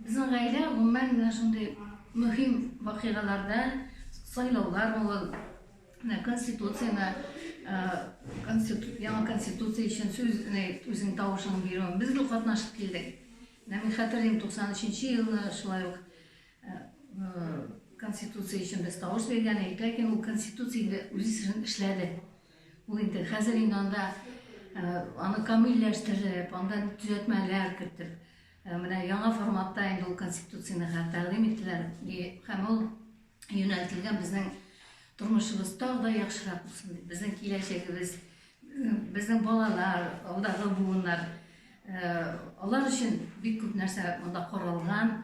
Безнең гаилә гомумән менә шундый мөһим вакыйгаларда, сайлаулар булыр, менә конституцияне, яңа конституция өчен сүз, үзеңнең тавышыңны бирү, без дә катнашып килдек. Менә мин хәтерлим, 93 елны шулай ук конституция өчен без тавыш биргән идек, ләкин ул конституция инде үз эшен эшләде. Бу инде хәзер инде анда аны камилләштереп, анда төзәтмәләр кертеп, менә яңа форматта инде ул конституцияне тәкъдим иттеләр һәм ул юнәлтелгән безнең тормышыбыз тагы да яхшырак булсын дип, безнең киләчәгебез, безнең балалар, алдагы буыннар, алар өчен бик күп нәрсә монда корылган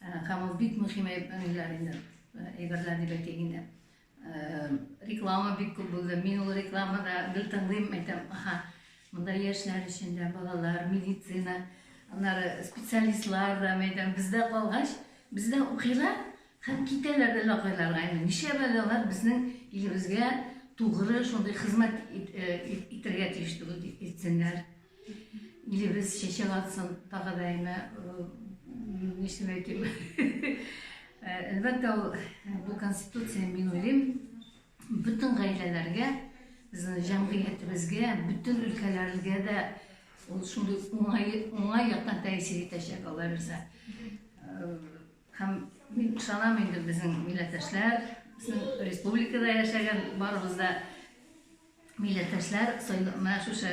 һәм ул бик мөһим әйберләр инде, әйберләр дип әйтик инде. Реклама бик күп булды. Мин ул рекламада гел тыңлыйм, әйтәм, аха, монда яшьләр өчен дә, балалар, медицина, аннары специалистлар да, әйтәм, бездә калгач, бездә укыйлар һәм китәләр әллә кайларга. Инде ничә балалар безнең илебезгә тугры шундый хезмәт итәргә тиеш түгел, итсеннәр. Илебез чәчәк атсын, тагы да әйме, нишләп әйтим. Әлбәттә, бу конституция, мин уйлыйм, бөтен гаиләләргә, безнең җәмгыятебезгә, бөтен өлкәләргә дә ул шундый уңай, уңай яктан тәэсир итәчәк, Алла бирсә. Һәм мин ышанам инде безнең милләттәшләр, республикада яшәгән барыбыз да Милләттәшләр менә шушы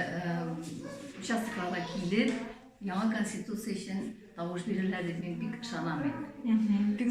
участокларга килеп, яңа конституция өчен тавыш бирерләр дип мин бик ышанам инде.